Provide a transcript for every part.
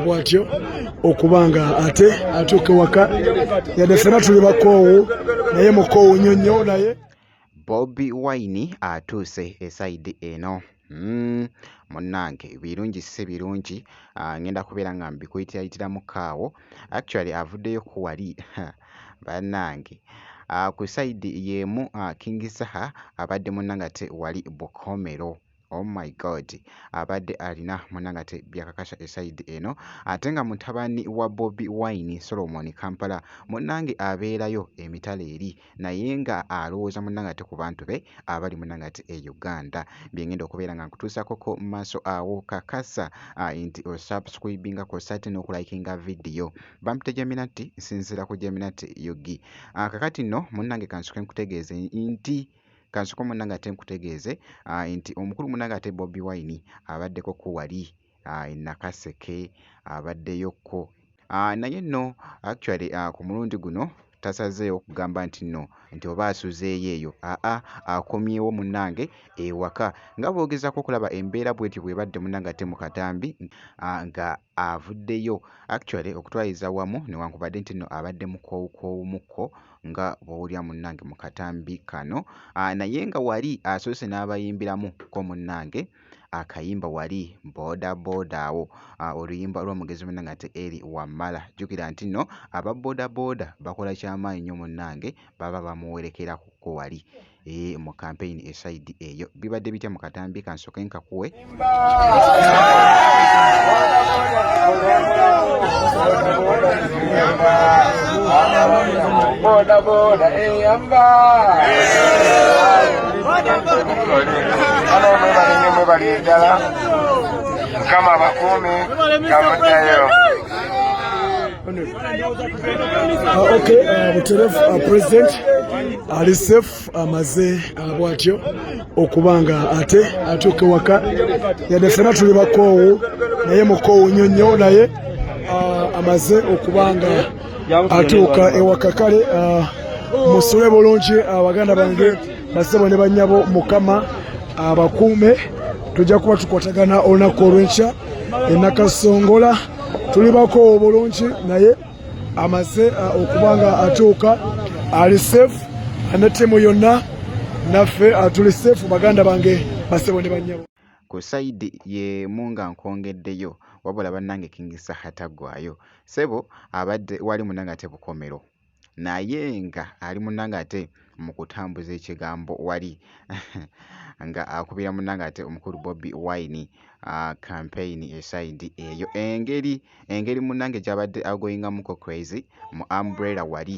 bwatyo okuba nga ate atuuka ewaka yadde fena tuli bakoowu naye mukoowu nnyo nnyo naye bobi wine atuuse esaidi eno hmm, munnange birungi si birungi ah, ngenda kubeera nga mbikuyitilayitiramu kaawo actually avuddeyo ku wali bannange ah, ku sayidi y'emu ah, King Saha abadde munnangate wali Bukomero. Oh my God abadde alina munnangate byakakasha esayidi eno ate nga mutabani wa Bobi Wine Solomon Kampala munnange abeerayo emitala eri. naye nga alowooza munange ate ku bantu be abali munange ate e Uganda byengenda okubeera nga nkutuusako ko maaso awo kakasa uh, nti osubscribinga ko sate n'okulayikinga vidiyo bampita Geminati nsinzira ku Geminati Yugi uh, kakati no munange kansuke nkutegeeze nti kansuke munange ate nkutegeeze uh, nti omukulu munange ate Bobi Wine abaddeko ko wali e Nakaseke abaddeyokko naye nno actually ku mulundi guno tasazeewo kugamba nti nno nti oba asuzeeyo eyo aa akomyewo munnange ewaka nga bwogezako okulaba embeera bwetyo bwebadde munnange ate mu katambi nga avuddeyo actually okutwaliza wamu newankubadde nti nno abadde mukoowukoowumukko nga bwowulira munnange mu katambi kano naye nga wali asoose n'abayimbiramu ko munnange akayimba wali boda boda awo oluyimba lw'omugezi munna nga te eri wammala jjukira nti nno aba boda boda bakola kyamaanyi nnyo munnange baba bamuwerekerako wali ee mu kampeyini esayidi eyo bibadde bitya mu katambi kansoke nkakuwe boda boda eyamba Uh, okay, uh, Buteref, uh, President ali safe amaze uh, bwatyo okuba nga ate atuuka ewaka yadde fena tuli bakoowu naye mukoowu nnyo nnyo naye uh, amaze okuba nga atuuka ewaka kale ah, musule bulungi ah, baganda bange basebo ne banyabo mukama abakuume ah, tujja kuba tukwatagana olunaku olwenkya enakasongola tuli bakoowo bulungi naye amaze okuba nga atuuka ali safe ne ttiimu yonna naffe tuli safe baganda bange basebo ne banyabo ku sayidi y'emu nga nkwongeddeyo wabula bannange King Saha taggwaayo. ssebo abadde wali munange ate bukomero naye nga ali munange ate mu kutambuza ekigambo wali nga akubira munange ate omukulu Bobi Wine kampeyini ah, esayidi eyo. Engeri engeri munange gy'abadde agoyingamuko Crazy mu umbrella wali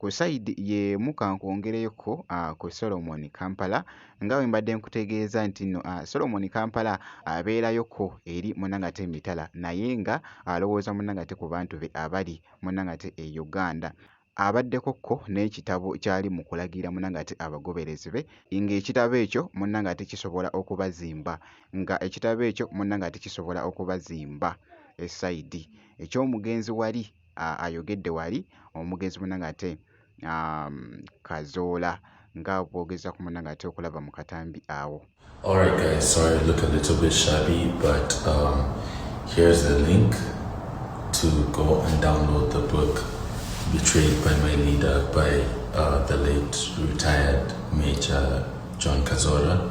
Ku side y'emu ka nkwongereko ku Solomon Kampala nga bwe mbadde nkutegeeza nti nno Solomon Kampala abeerayoko eri munangate emitala naye nga alowooza munangate ku bantu be abali munangate e Uganda. Abaddeko ko n'ekitabo ky'ali mu kulagira munangate abagoberezi be ng'ekitabo ekyo munangate kisobola okubazimba nga ekitabo ekyo munangate kisobola okubazimba e side eky'omugenzi wali. ayogedde wali omugenzi munange ate um, kazoola nga bwogeza ku munange ate okulaba mu katambi awo Alright guys, sorry I look a little bit shabby but um, here's the link to go and download the book Betrayed by My Leader by uh, the late retired Major John Kazora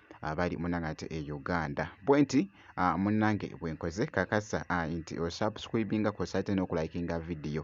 abali munange ate e Uganda bwenti munange bwenkoze kakasa nti osubscribinga kwosa ate nokulayikinga vidiyo.